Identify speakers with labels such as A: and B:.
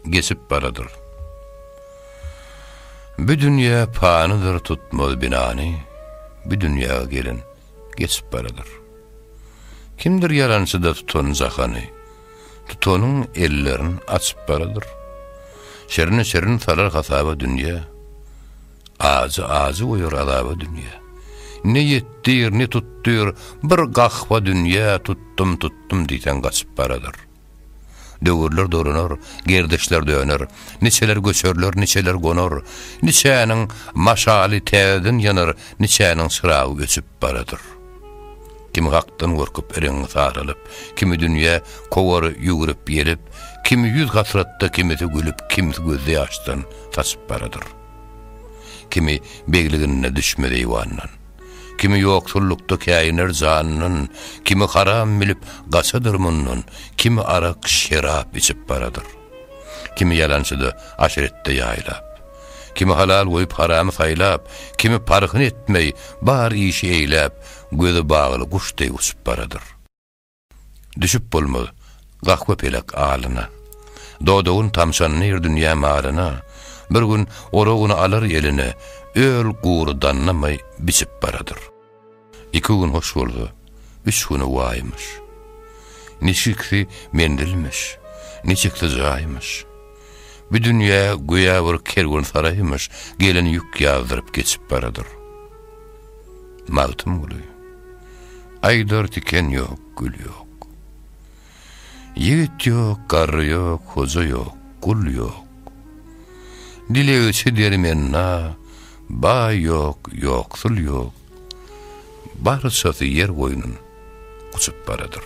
A: Geçip baradyr. Bü dünýä panydyr tutmaz binany, Bü dünýä gelen geçip baradyr. Kimdir ýalançyda tutan jahany, Tutanyň ellerin açyp baradyr. Şerine şerin salar hasaba dünýä, Ajy ajy goýar azaba dünýä. Ne ýetdir, ne tutdyr, bir gahwa dünýä, Tutdum, tutdum diýseň gaçyp baradyr. Döwürler dolanar, gerdişler döner, Niçeler göçerler, niçeler gonar, Niçäniň maşaly täzeden ýanar, Niçäniň çyragy öçüp baradyr. Kimi hakdan gorkup reňňi saralyp, Kimi dünýä kowar ýüwrüp-ýelip, Kimi ýüz hasratda, kimisi gülüp, Kimsi gözýaşdan saçyp baradyr. Kimi begliginde düşmez eýwandan. Kimi ýoksullykda käýiner janyndan, Kimi haram bilip gaçadyr mundan, Kimi arak, şerap içip baradyr. Kimi ýalançyda, aşretde ýaýlap. Kimi halal goýup haramy saýlap, Kimi parhyn etmeý, bar işi eýläp, Gözi bagly guş deý uçup baradyr. Düşüp bolmaz gahwa-pelek alyna. Dodagyn tamşandyr dünýä malyna, Bir gün oragyny alar eline, Öl gury dannamaý biçip baradyr. Iki gün hoş bolsa, üç güni waýmyş. Niçiksi menzilmiş, niçiksi jaýmyş. Bu dünýä göýä bir kerwensaraýmyş gelen ýük ýazdyryp geçip baradyr. Magtymguly. Aýdar tiken ýok, gül ýok. Ýigit ýok, garry ýok, hoja ýok, gul ýok. Dilegçi dermenna, baý ýok, ýoksul ýok. Barçasy ýer goýnun guçup baradyr.